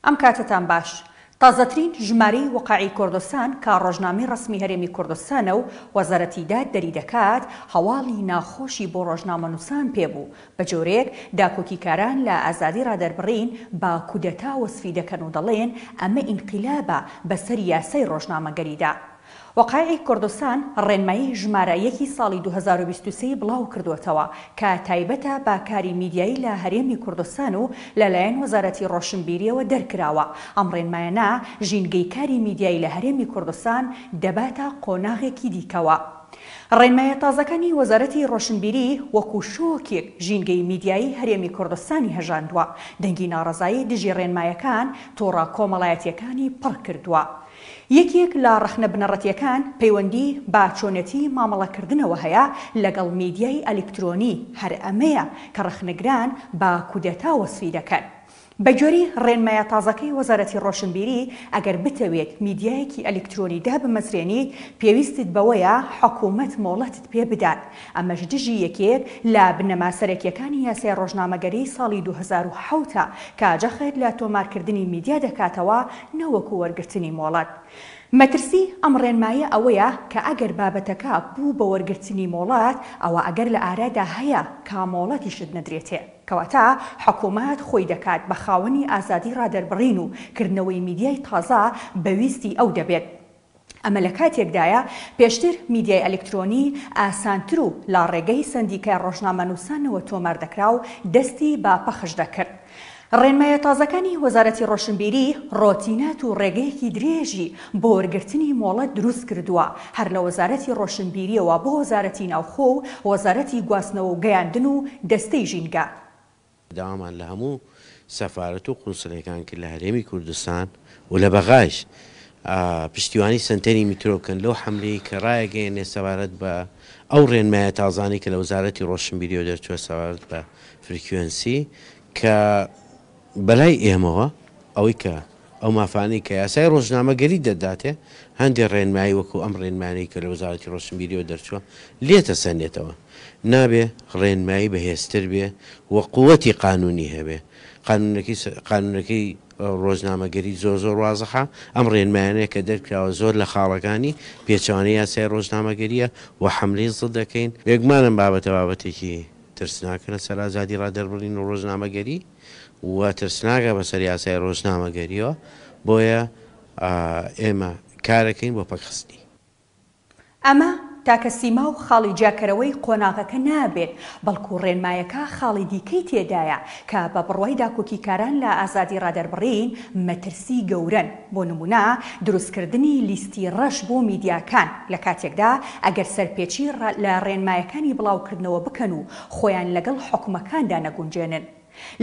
ئەم کاتەتان باش. تازەترین ژمارەی وقایعی کوردستان کە ڕۆژنامەی ڕەسمی هەرێمی کوردستانە و وەزارەتی داد دەریدەکات، هەواڵی ناخۆشی بۆ ڕۆژنامەنووسان پێ بوو، بە جۆرێک داکۆکیکاران لە ئازادی ڕادەربڕین بە کودەتا وەسفی دەکەن و دەڵێن ئەمە ئینقیلابە بەسەر یاسای ڕۆژنامەگەریدا. وەقایعی کوردستان ڕێنمایی ژمارە یەکی ساڵی دوو هەزار و بیست و سێ ی بڵاوکردووەتەوە کە تایبەتە بە کاری میدیایی لە هەرێمی کوردستان و لەلایەن وەزارەتی ڕۆشنبیرییەوە دەرکراوە، ئەم ڕێنمایانە ژینگەی کاری میدیایی لە هەرێمی کوردستان دەباتە قۆناغێکی دیکەوە. ڕێنمایە تازەکانی وەزارەتی ڕۆشنبیری وەکو شۆکێک ژینگەی میدیایی هەرێمی کوردستانی هەژاندووە، دەنگی ناڕەزایی دژی ڕێنمایەکان تۆڕە کۆمەڵایەتییەکانی پڕکردووە، یەکێک لە ڕەخنە بنەڕەتییەکان پەیوەندی بە چۆنێتی مامەڵەکردنەوە هەیە لەگەڵ میدیای ئەلیکترۆنی، هەر ئەمەیە کە ڕەخنەگران بە کودەتا وەسفی دەکەن. بەگوێرەی ڕێنمایە تازەکەی وەزارەتی ڕۆشنبیری، ئەگەر بتەوێت میدیایەکی ئەلیکترۆنی دابمەزرێنیت، پێویستت بەوەیە حکومەت مۆڵەتت پێ بدات، ئەمەش دژی یەکێک لە بنەما سەرەکییەکانی یاسای ڕۆژنامەگەریی ساڵی دوو هەزار و حەوت ە کە جەخت لە تۆمارکردنی میدیا دەکاتەوە نەوەکو وەرگرتنی مۆڵەت. مەترسی ئەم ڕێنمایە ئەوەیە کە ئەگەر بابەتەکە بوو بە وەرگرتنی مۆڵەت، ئەوا ئەگەر لە ئارادا هەیە کە مۆڵەتیشت نەدرێتێ. کەواتە حکومەت خۆی دەکات بە خاوەنی ئازادی ڕادەربڕین و کردنەوەی میدیای تازە بە ویستی ئەو دەبێت. ئەمە لە کاتێکدایە پێشتر میدیای ئەلیکترۆنی ئاسانتر و لە ڕێگەی سەندیکای ڕۆژنامەنووسانەوە تۆمار دەکرا و دەستی بە پەخش دەکرد. ڕێنمایە تازەکانی وەزارەتی ڕۆشنبیری ڕۆتینات و ڕێگەیەکی درێژی بۆ وەرگرتنی مۆڵەت دروست کردووە، هەر لە وەزارەتی ڕۆشنبیرییەوە بۆ وەزارەتی ناوخۆ و وەزارەتی گواستنەوە و گەیاندن و دەستەی ژینگە. داوامان لە هەموو سەفارەت و قونسلەکان کرد لە هەرێمی کوردستان و لە بەغایش پشتیوانی سەنتەری میترۆ بکەن لەو حەملەی کە ڕایەگەیەنێ سەبارەت بە ئەو ڕێنمایە تازانەی کە لە وەزارەتی ڕۆشنبیریەوە دەرچووە سەبارەت بە فرکوێنسی کە بەلای ئێمەوە ئەوەی کە ئەو مافانەی کە یاسای ڕۆژنامەگەری دەداتێ، هەندێ ڕێنمایی وەکوو ئەم ڕێنمایانەی کە لە وەزارەتی ڕۆشنبیرییەوە دەرچووە، لێتەسەنێتەوە. نابێ ڕێنمایی بەهێزتر بێ و قووتی قانوونی هەبێ. قانوونەکەی س قانوونەکەی ڕۆژنامەگەری زۆر زۆر وازحە. ئەم ڕێنمایانەیە کە دەرکراوە زۆر لە خاڵەکانی پێچەوانەی یاسای ڕۆژنامەگەرییە و حەملەی زد دەکەین. بێگومان ئەم بابەتە بابەتێکی ترسناکە لەسەر ئازادی ڕادەربڕین و ڕۆژنامەگەری. و ترسناکە بەسەر یاسای ڕۆژنامەگەریەوە، بۆیە ئێمە کارەکەین بۆ پەکخستنی. ئەمە تاکە سیما و خاڵی جیاکەرەوەی قۆناغەکە نابێت، بەڵکو ڕێنمایەکە خاڵی دیکەی تێدایە کە بە بڕوای داکۆکیکاران لە ئازادی ڕادەربڕین مەترسی گەورەن، بۆ نمونە دروستکردنی لیستی ڕەش بۆ میدیاکان لە کاتێکدا ئەگەر سەرپێچی لە ڕێنمایەکانی بڵاوکردنەوە بکەن و خۆیان لەگەڵ حوکمەکاندا نەگونجێنن.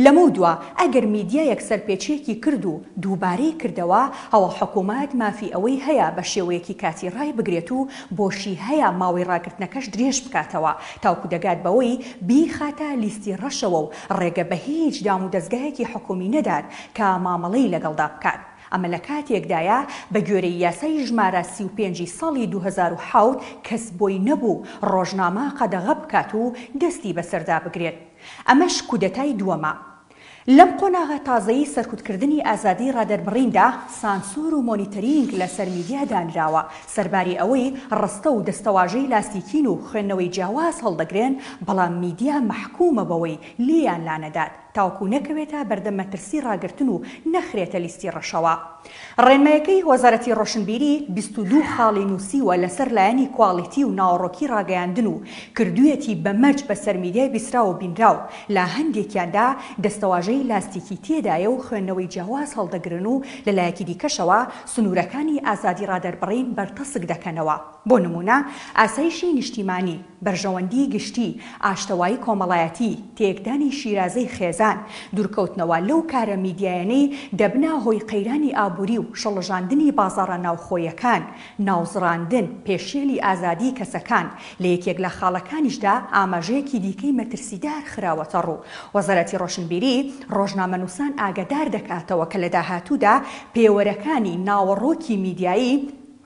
لەمەودوا ئەگەر میدیایەک سەرپێچییەکی کرد و دووبارەی کردەوە، ئەوا حکومەت مافی ئەوەی هەیە بە شێوەیەکی کاتی ڕایبگرێت و بۆشی هەیە ماوەی ڕاگرتنەکەش درێژ بکاتەوە تاوکو دەگات بەوەی بیخاتە لیستی ڕەشەوە و ڕێگە بە هیچ دامودەزگایەکی حکومی نەدات کە مامەڵەی لەگەڵدا بکات. ئەمە لە کاتێکدایە بە گوێرەی یاسای ژمارە سی و پێنج ی ساڵی دوو هەزار و حەوت کەس بۆی نەبوو ڕۆژنامە قەدەغە بکات و دەستی بەسەردا بگرێت. ئەمەش کودەتای دووەمە. لەم قۆناغە تازەی سەرکوتکردنی ئازادی ڕادەربڕیندا، سانسۆر و مۆنیتەرینگ لەسەر میدیا دانراوە، سەرباری ئەوەی ڕستە و دەستەواژەی لاستیکین و خوێندنەوەی جیاواز هەڵدەگرێن، بەڵام میدیا مەحکومە بەوەی لێیان لانەدات. تاوەکو نەکەوێتە بەردەم مەترسی ڕاگرتن و نەخرێتە لیستی ڕەشەوە. ڕێنمایەکەی وەزارەتی ڕۆشنبیری بیست و دوو خاڵی نووسیوە لەسەر لایەنی کواڵیتی و ناوەڕۆکی ڕاگەیاندن و کردوویەتی بە مەرج بەسەر میدیای بیسراو و بینراو، لە هەندێکیاندا دەستەواژەی لاستیکی تێدایە و خوێندنەوەی جیاواز هەڵدەگرن و لەلایەکی دیکەشەوە سنوورەکانی ئازادی ڕادەربڕین بەرتەسک دەکەنەوە. بۆ نموونە ئاسایشی نیشتیمانی، بەرژەوەندیی گشتی، ئاشتەوایی کۆمەڵایەتی، تێکدانی شیرازەی خێزان، دوورکەوتنەوە لەو کارە میدیایەنەی دەبنە هۆی قەیرانی ئابووری و شڵەژاندنی بازاڕە ناوخۆیەکان، ناوزڕاندن، پێشێلی ئازادیی کەسەکان، لە یەکێک لە خاڵەکانیشدا ئاماژەیەکی دیکەی مەترسیدار خراوەتەڕوو، وەزارەتی ڕۆشنبیری ڕۆژنامەنووسان ئاگادار دەکاتەوە کە لە داهاتوودا پێوەرەکانی ناوەڕۆکی میدیایی،